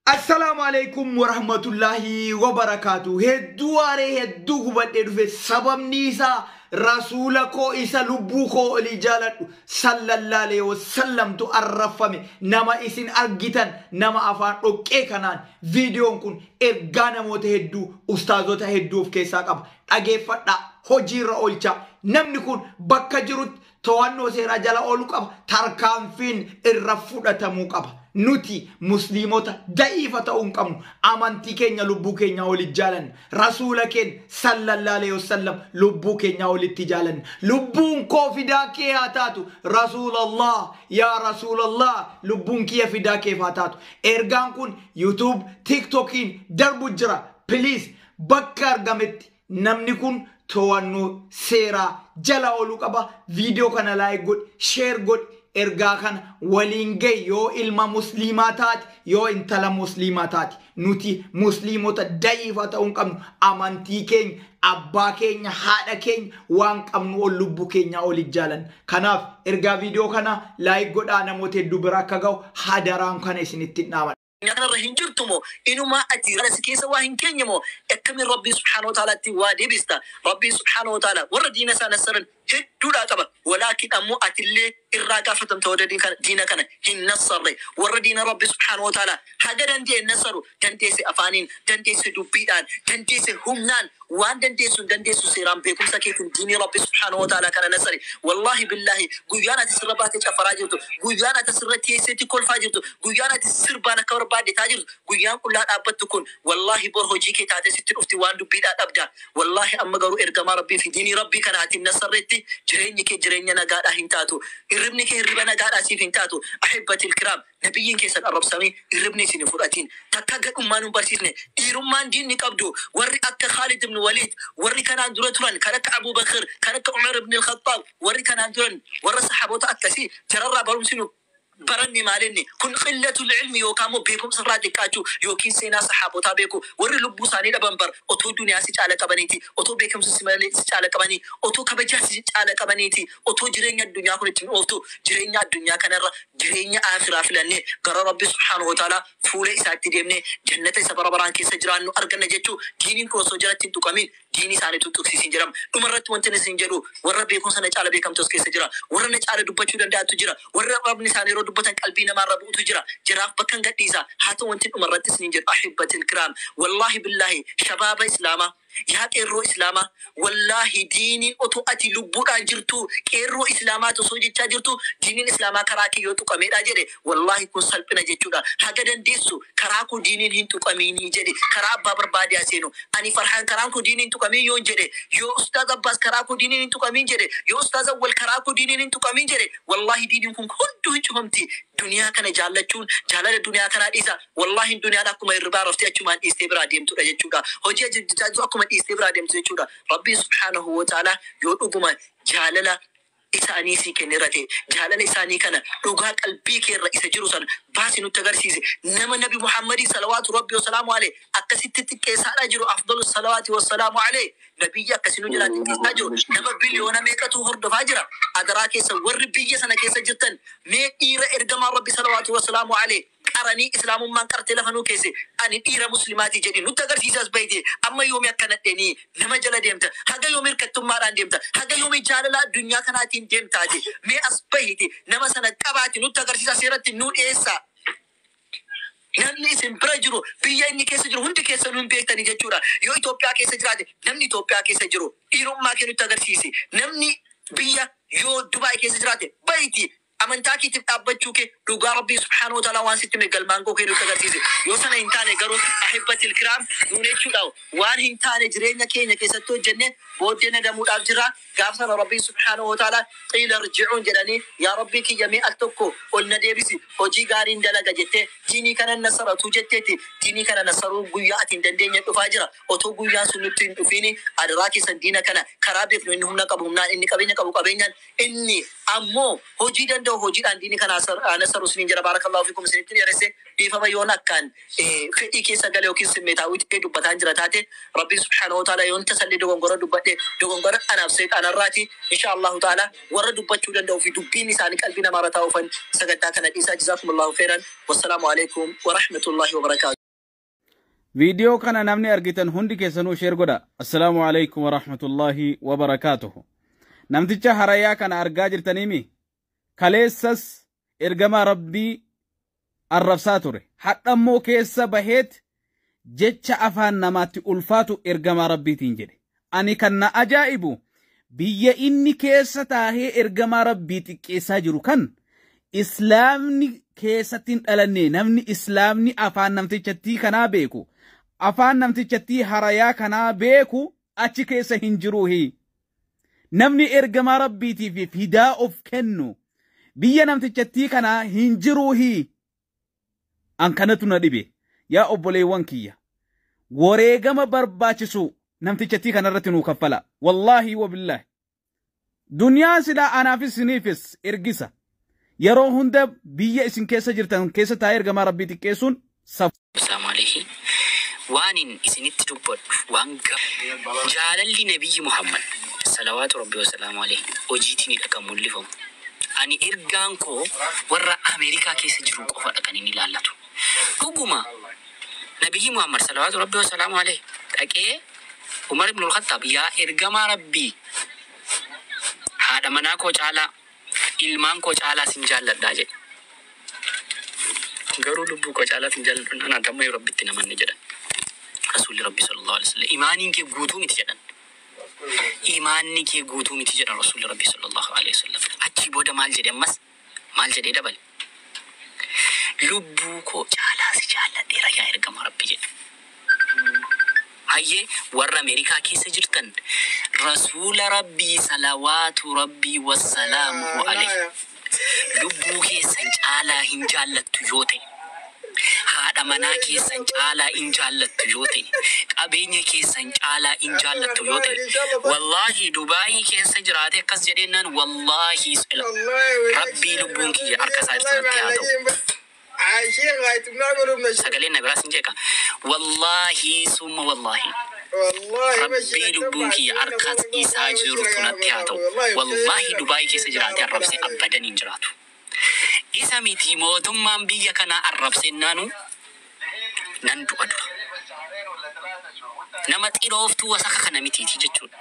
Assalaamu alaikum warahmatullahi wabarakaatu hedduu aaree hedduu gubadhee dhufe sababni isaa rasuula koo isa lubbuu koo olii jaaladhu sallallaalee wasallamtu arrafame nama isin argitan nama afaan dhoqqee kanaan viidiyoon kun ergaa namoota hedduu ustaazota hedduu of keessaa qaba dhageeffadhaa hojiirra oolchaa namni kun bakka jirutti to'annoo seeraa jala oolu qaba. Tarkaanfiin irra fudhatamuu qaba. Nuti musliimota da'iifa ta'uu hin qabnu. Amantii keenya lubbuu keenyaa oli jaalanna. Rasuula keenya sallallahu alaihi wasallam lubbuu keenyaa olitti jaalanna. Lubbuun koo fidaa kee haa taatu. Rasuulallah yaa Rasuulallah lubbuun kiyya fidaa keef haa taatu. Ergaan kun YouTube, TikTokiin darbu jira. Please bakka argametti Namni kun to'annoo seeraa jala oolu qaba. Viidiyoo kana laayik godhi, sheer godhi, ergaa kana waliin gahi yoo ilma musliimaa taate, yoo intala musliimaa taate. Nuti musliimota da'iifa ta'uu hin qabnu. Amantii keenya, abbaa keenya, haadha keenya waan qabnu ol lubbuu keenyaa oli jaalanna. Kanaaf ergaa viidiyoo kanaa laayik godhaa namoota hedduu bira akka gahu hadaraan kana isinittin dhaama. addunyaa kanarra hin jirtu moo inumaa ati gara si keessa waa hin keenye moo akkamiin rabbii subhaana wa taalaatti waa deebista rabbii subhaana wa taala warra diina isaa nassaran hedduudhaa qaba walaakin ammoo atillee irraa gaafatamta warra diin kana- diina kana hin nassarre warra diina rabbii subhaana wa taala haga danda'e hin nassaru dandeesse afaaniin dandeesse dubbiidhaan dandeesse humnaan Waan dandeessu hin dandeessu seeraan beekumsa keetiin diinii Rabbi subhaanahu wa ta'aalaa kana nasari. Wallaahi billaahi guyyaan ati sirra baatee caffaraa jirtu, guyyaan ati asirra teesseetti kolfaa jirtu, guyyaan ati sirbaan akka barbaadde ta'aa jirtu, guyyaan qullaa dhaabbattu kun wallaahi bor hojii kee taatee sitti dhufti waan dubbiidhaa dhabda. Wallaahi amma garuu ergamaa Rabbii fi diinii Rabbii kana ati hin nassarretti jireenyi kee jireenya nagaadhaa hin taatu. Hirribni kee hirriba nagaadhaa siif hin taatu. Ahibbatil kiraam! Nabiyyiin keessan arrabsamee hirribni isin hin fudhatiin. Takkaa gadhummaa nun barsiisne. Dhiirummaan diinni qabdu warri akka Khaalid ibn Waliid, warri kanaan dura turan kan akka Abuu Bakr, kan akka Umar ibn al-Khaxxaab, warri kanaan duran warra sahaabota akkasii jararraa barumsi nu baranne maalinni? Kun qillatul ilmi yookaa immoo beekumsarraa xiqqaachuu ykn seenaa sahaabotaa beekuu. Warri lubbuu isaanii dhaban bar otoo duniyaa si caala qabaniiti, otoo beekumsa si malee si caala qabanii, otoo kabajaa si caala qabaniiti. Otoo jireenya addunyaa kun itti nu ooftu jireenya addunyaa kana irra jireenya Aakhiraa filannee gara Rabbi subhaanahu wa ta'aalaa fuula isaatti deemnee jannata isa bara baraan keessa jiraannu arganna jechuu diiniin kun osoo jalatti hin tuqamiin diinii isaanii utuu hin tuqsiisiin jedhama. Dhuma irratti wantin isiniin jedhu warra beekumsa na caala beekamtu as keessa jira. Warra na caala dubbachuu danda'antu jira. Warra arrabni isaanii yeroo dubbatan qalbii namaa irra bu'utu jira. Jaraaf bakkan gadhiisa. Haa ta'u wantin dhuma irratti isiniin jedhu Ahibbatil kiraam wallaahi billaahi shabaaba Islaamaa. Yaa qeerroo islaamaa wallahi diiniin otoo ati lubbuudhaan jirtuu qeerroo islaamaati osoo jechaa jirtuu diiniin islaamaa karaa kee yoo tuqameedha jedhe wallahi kun salphina jechuudha haga dandeessu karaa koo diiniin hin tuqamiinii jedhi karaa abbaa barbaade haa seenu ani farhaan karaan koo diiniin hin tuqamiin yoon jedhe yoo ustaaz abbaas karaa koo diiniin hin tuqamiin jedhe yoo ustaaz awwal karaa koo diiniin hin tuqamiin jedhe wallahi diiniin kun hunduu hin cufamti duniyaa kana jaallachuun jaalala duniyaa kanaa dhiisa Wallahi duniyaan akkuma hirribaa raftee achumaan dhiistee biraa deemtudha jechuudha. Hojii ajajjaajjuu akkuma dhiistee biraa deemtu jechuudha. Rabbiin subhaanahu wa ta'aalaa yoo dhuguma jaalala isaanii sii kenneera ta'e, jaalala isaanii kana dhugaa qalbii kee irra isa jiru sana baasi nutti agarsiisi. Nama Nabi Muhammadiin salawaatu Rabbii wa salaamu aleyh akkasitti xiqqeessaadhaa jiru afdalu salawaati wa salaamu aleyh Nabiyyi akkasi nu jalaa xiqqeessaa jiru nama biliyoona meeqatu hordofaa jira. Adaraa keessan warri biyya sana keessa jirtan mee dhiira ergamaa Rabbii salawaatu wa salaamu aleyh qaranii islamummaan qartee lafa nuu keesse ani dhiira muslimaati jedhi nutti agarsiisi as bahite amma yoomi akka nadheni nama jala deemta haga yoomi hirkattummaadhaan deemta haga yoomi jaalala addunyaa kanaatiin deemta ati mee as bahiti nama sana qabaati nutti agarsiisa seeratti nuu dhiyeessa namni isin bira jiru biyya inni keessa jiru hundi keessanuu hin beektani jechuudha yoo Itoophiyaa keessa jiraate namni Itoophiyaa keessa jiru dhiirummaa kee nutti agarsiisi namni biyya yoo Dubaay keessa jiraate bahiti Amantaa keetiif dhaabbachuu kee dhugaa Rabbiin subhaanahu wa ta'aalaa waan sitti hime galmaan ga'uu kee nutti agarsiise. Yoo sana hin taane garuu ahibbatil kiraam duune jechuudha. Waan hin taane jireenya keenya keessatti hojjennee booddee nadamuudhaaf jirra. Gaaf sana Rabbiin subhaanahu wa ta'aalaa qiila irji'uun jedhanii yaa Rabbii kiyya mee al tokko ol na deebisi hojii gaariin dalaga jettee diinii kanan nassaratuu jetteetti. Diinii kana nassaruun guyyaa ati hin dandeenye dhufaa jira. Otoo guyyaan sun nutti hin dhufiini adaraa keessan diina kana karaa beeknu inni humna qabu humnaan, inni qabeenya qabu qabeenyaan, Inni Ammo hojii danda'u hojiidhaan diini kana hanasaru isiniin jedha barakallahu fikum isinitti dheeresse dhiifama yoon akkaan fedhii keessa gale yookiin simmeetaawwii ta'ee dubbataan jira taate Rabbiin subhaanahu wa ta'aalaa yoon tasallee dogongora dubbadhe dogongora anaaf seexaana irraati inshaa Allahu ta'aalaa warra dubbachuu danda'u fi dubbiin isaanii qalbii namaa irra taa'uufan sagantaa kana dhiisaa jazaakumullahu kheyran wassalaamu aleykum warahmatullahi wabarakaatuh. Viidiyoo kana namni argitan hundi keessanuu sheer godha. Assalaamu alaikum wa rahmatullahi wa barakaatuhu. Namticha harayaa kana argaa jirtaniimi? Kaleessas ergamaa Rabbii arrabsaa ture. Hadhammoo keessa baheet jecha afaan namaatti ulfaatu ergamaa Rabbiitiin jedhe. Ani kan na ajaa'ibu biyya inni keessa taahee ergamaa Rabbii xiqqeessaa jiru kan Islaamni keessatti hin dhalanne namni Islaamni afaan namtichattii kanaa beeku afaan namtichattii harayaa kanaa beeku achi keessa hin jiruuhi. Namni ergamaa Rabbiitiif fidaa of kennu biyya namtichattii kanaa hin jiruuhi. An kanatu na dhibe. Yaa obboleewwan kiyya. Wareegama barbaachisu namtichattii kanarratti nuu kaffalaa. Wallaahi wabillaahi. Duniyaa silaa anaafis isiniifis ergisa. Yeroo hunda biyya isin keessa jirtan keessa taa'ee ergamaa Rabbii xiqqeessuun safuu. Assalaamu Aleeyhi. Waanin isinitti dubbadhu waan gaariidha. Jaalalli Nabiyyi Muhammad, salawaatu Rabbi wa salaamu Aleeyhi, hojiitiin akka mul'ifamu. Ani ergaan koo warra Amerikaa keessa jiruu qofadha kan inni ilaallatu. Dhuguma Nabiyyii Muhammad, salawaatu Rabbii wa salaamuhu aleyh, dhaqee Umar ibnul Khaxxaab, Yaa Ergamaa Rabbii! Haadha manaa koo caalaa, ilmaan koo caalaa sin jaalladha jedhe. Garuu lubbuu koo caalaa sin jaalladhu jennaan, Ati ammayyuu Rabbitti hin amanne jedhan. Rasuulli Rabbii, sallaallaahu aleyhi wa sallam, Iimaaniin kee guutuu miti jedhan. iimaanni kee guutuu miti jedhan Rasuulli Rabbii sallallaahu aleeyhi wasallam. Achii booda maal jedhe ammas? Maal jedhee dabale? Lubbuu koo caalaa si jaalladheera yaa ergamaa Rabbii jedhe. Hayyee warra Ameerikaa keessa jirtan Rasuula Rabbii salawaatu Rabbii wassalaamuhu aleeyhi. Lubbuu keessan caalaa hin jaallattu yoo ta'e, haadha manaa keessan caalaa in jaallattu yoo ta'e, qabeenya keessan caalaa in jaallattu yoo ta'e, Wallaahi Dubai keessa jiraatee akkas jedheennaan Wallaahi Sila Rabbii lubbuun kiyya harka isaa irratti natti haa ta'u. Aishee waayitumaa godhuu mashi. Sagaleen na biraa sin jeeqa. Wallaahi summa wallaahi. Wallaahi Rabbii mashi. lubbuun kiyya harkaat isaa jirtu natti haa ta'u. Wallaahi Dubaay keessa jiraatee arrabsee abbadan hin jiraatu. Isa miti mootummaan biyya kanaa arrabsennaanu nan du'a dura. Nama xirooftuu wasaka kana mitiiti jechuudha.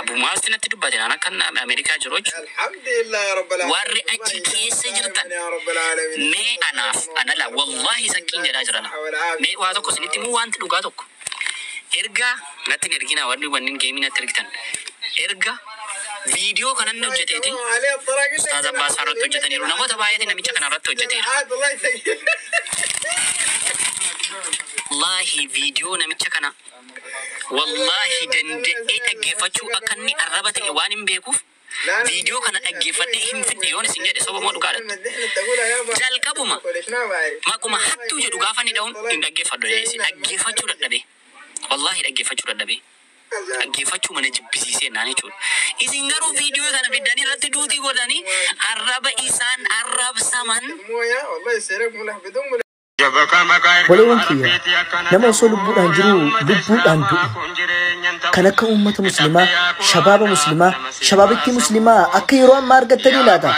Abumaazti natti dubbate naan akkan Amerikaa jiru jechuudha. Warri achi keessa jirtan mee anaaf anala wallahi sakkiin jedhaa jirana. Mee waa tokko isinitti himuu waanti dhugaa tokko. Erga natti hin erginaa warri wannin geemii natti ergitan. Erga viidiyoo kana inni hojjeteeti Ustaaz Abbaas fa'aa irratti hojjetaniiru. Namoota baay'eetiin namicha kana irratti hojjeteera. Wallahi viidiyoo namicha kana Wallaahi danda'ee dhaggeeffachuu akka inni arraba ta'e waanin beekuuf viidiyoo kana dhaggeeffadhee hin fidne yoon isin jedhe soba moo dhugaa latta? Jalqabuma maquma hattuu jedhu gaafa inni dhahun hin dhaggeeffadhu jedhee si dhaggeeffachuu dadhabee wallaahi dhaggeeffachuu dadhabee dhaggeeffachuuma na jibbisiisee naan jechuudha. Isin garuu viidiyoo kana fiddanii irratti duutii godhanii arraba isaan arrabsaman Obboleewwan kiyya nama osoo lubbuudhaan jiruu lubbuudhaan du'e kan akka uummata muslimaa shabaaba muslimaa shabaabittii muslimaa akka yeroo ammaa argattanii laata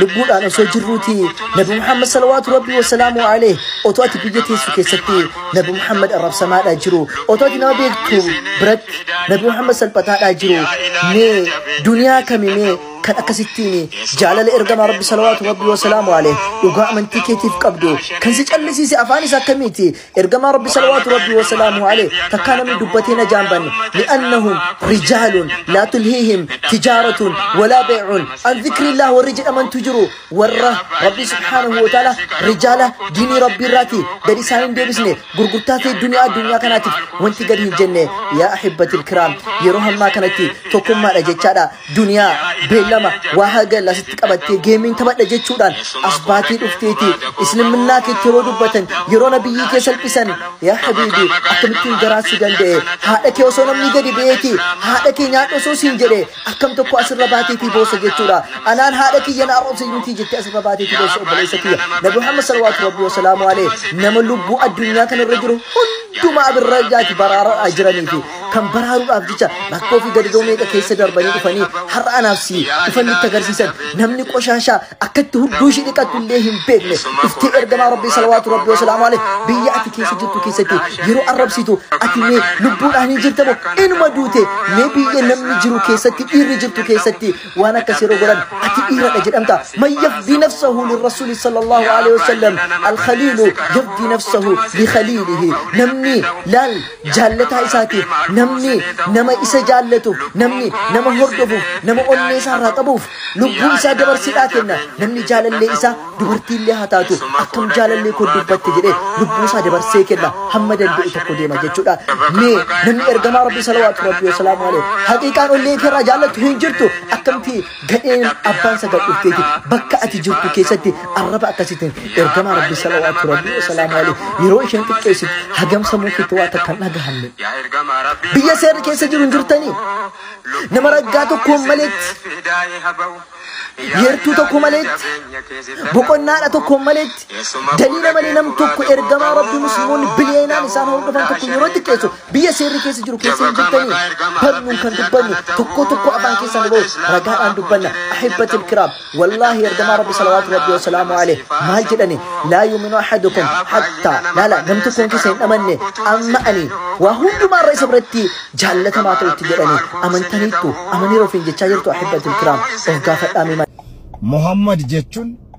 lubbuudhaan osoo jirruuti nabi muhammad salawaatu rabbii wasalaamu alee otoo ati biyya teessu keessatti nabi muhammad arrabsamaadhaa jiru otoo ati nama beektu biratti nabi muhammad salphataadhaa jiru mee duniyaa kami mee kan akkasittiin jaalala ergamaa rabbi salawaatu rabbi wasalaamu aleeh dhugaa amantii keetiif qabdu kan si callisiise afaan isa akkamiiti ergamaa rabbi salawaatu rabbi wasalaamu aleeh takkaa namni dubbatee na jaambanne li'annahum rijaalun laa tulhiihim tijaaratun walaa beecuun an zikrillaah warri jedhamantu jiru warra rabbi subhaanahu wa ta'ala rijaala diinii rabbii irraati gadi isaan hin deebisne gurgurtaa fi duniyaa addunyaa kanaatiif wanti gadi hin jenne yaa ahibbatil kiraam yeroo hammaa kanatti tokkummaadha jechaadha Duniyaa, beellama, waa hagal asitti qabattee geemiin taphadha jechuudhaan as baatee dhufteeti. Isliminnaa keetti yeroo dubbatan, yeroo nabiyyii kee salphisan, yaa habiibi, akkamittiin garaa si danda'e? Haadha kee osoo namni gadi ba'eeti, haadha kee nyaadhu osoo siin jedhe, akkam tokko asirra baateetii boossa jechuudha. Anaan haadha kiyya na arrabsa jirtii jettee asirra baateetii boossa obboleessa kiyya. Nabi Muhammad salawaatu rabbii wasalaamu alee nama lubbuu addunyaa kanarra jiru hundumaa birra jaati baraaraa jiraniiti. kan baraaruudhaaf jecha rakkoo fi gadadoo meeqa keessa darbanii dhufanii har'a anaaf si dhufan itti agarsiisan namni qoshaashaa akkatti hudduu ishii dhiqattu illee hin beekne dhuftee ergamaa rabbii salawaatu rabbii wasalaamu alee biyya ati keessa jirtu keessatti yeroo arrabsitu ati mee lubbuudhaan hin jirta moo inuma duute mee biyya namni jiru keessatti dhiirri jirtu keessatti waan akkas yeroo godhan ati dhiiradha jedhamta man yafdii nafsahu lirrasuuli sallallahu alaihi wasallam alkhaliilu yafdii nafsahu likhaliilihi namni laal jaallataa isaatiif namni nama isa jaallatuuf namni nama hordofuuf nama onnee isaa irraa qabuuf lubbuu isaa dabarsiidhaa kenna namni jaalallee isaa dubartiillee haa taatu akkam jaalallee koo dubbatte jedhee lubbuu isaa dabarsee kenna hamma danda'u tokko deema jechuudha mee namni ergamaa rabbii salawaatu rabbii wasalaamu alayhi haqiiqaan onnee kee irraa jaallattu hin jirtu akkamti Gadheen abbaan sagal dhufteeti bakka ati jirtu keessatti arraba akkasiitiin ergamaa rabbi salawaatu rabbi wasalaamu alee yeroo isheen xiqqeessitu hagam sammuu keetti waa takka hin dhagahamne biyya seerri keessa jiru hin jirtanii nama raggaa tokkoon maleetti yeertuu tokko maleetti boqonnaadha tokkoon maleetti Daliila malee nam tokko ergamaa Rabbii Musliimonni biliyeenaan isaan hordofan tokko yeroo xiqqeessu biyya seerri keessa jiru keessa hin jirtanii barnuun kan dubbannu tokko tokko afaan keessa nu ba'u ragaadhaan dubbanna ahibbatil kiraam wallaahi ergamaa Rabbi salawaatu Rabbi wasalaamu alee maal jedhani laa yuminu ahadukum hattaa laala nam tokkoon keessa hin dhamanne amma ani waa hundumaarra isa biratti jaallatamaa ta'utti jedhani amantaniittu amaniira ofiin jechaa jirtu ahibbatil kiraam of gaafadhaa mee Muhammad jechuun